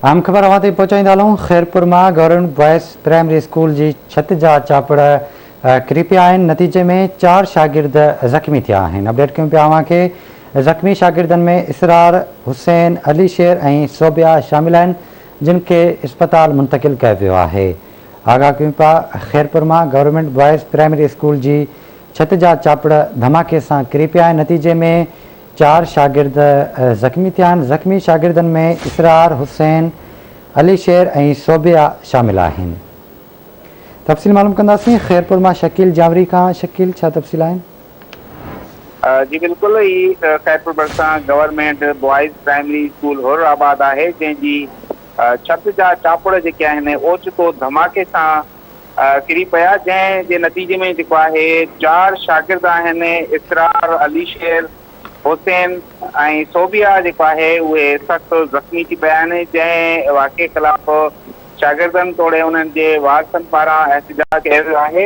اهم خبر اوهان تائين پهچائيندا هلون، خيرپور مان گورنمينٽ بوائز پرائمري اسڪول جي ڇت جا چاپڙ ڪري پيا آهن، نتيجي ۾ چار شاگرد زخمي ٿيا آهن، اپڊيٽ ڪيون پيا اوهان کي، زخمي شاگردن ۾ اسرار، حسين، علي شير ۽ صوبيا شامل آهن، جن کي اسپتال منتقل ڪيو ويو آهي، آگاهه ڪيون پيا، خيرپور مان گورنمينٽ بوائز پرائمري اسڪول جي ڇت جا چاپڙ ڌماڪي سان ڪري پيا آهن، نتيجي ۾. چار شاگرد زخمي ٿيا آهن، زخمي شاگردن ۾ اسرار، حسين، علي شير ۽ صوبيا شامل آهن. تفصيل معلوم ڪنداسين خيرپور مان شڪيل جانوري کان، شڪيل ڇا تفصيل آهن؟ جي بلڪل هي خيرپور ڀرسان گورنمينٽ بوائز پرائمري اسڪول حر آباد آهي جنهن جي ڇت جا چاپڙ جيڪي آهن اوچتو ڌماڪي سان ڪري پيا جنهن جي نتيجي ۾ جيڪو آهي چار شاگرد آهن اسرار، علي شير، حسين ۽ صوبيا جيڪو آهي اهي سخت زخمي ٿي پيا آهن جنهن واقعي خلاف شاگردن توڙي انهن جي وارثن پاران احتجاج ڪيو ويو آهي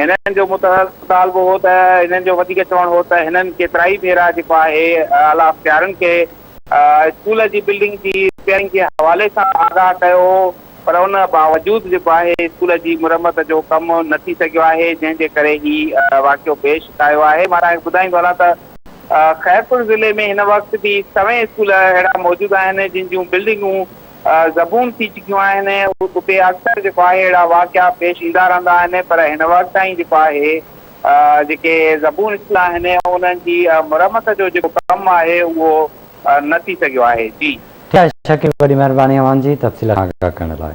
هنن جو مطالبو هو ته هنن جو وڌيڪ چوڻ هو ته هنن ڪيترائي ڀيرا جيڪو آهي اعليٰ اختيارن کي اسڪول جي بلڊنگ جي رپيئرنگ جي حوالي سان آگاهه ڪيو هو پر ان باوجود جيڪو آهي اسڪول جي مرمت جو ڪم نه ٿي سگهيو آهي جنهن جي ڪري هي واقعو پيش آيو آهي مان تهان کي ٻڌائيندو هلان ته خيرپور ضلعي ۾ هن وقت به سوين اسڪول اهڙا موجود آهن جن جون بلڊنگون زبون ٿي چڪيون آهن اتي اڪثر جيڪو آهي اهڙا واقعا پيش ايندا رهندا آهن پر هن وقت تائين جيڪو آهي جيڪي زبون اصلاح آهن انهن جي مرمت جو جيڪو ڪم آهي اهو نه ٿي سگهيو آهي جي. ٺيڪ آهي شڪيل وڏي مهرباني اوهان جي تفصيل سان آگاهه ڪرڻ لاء.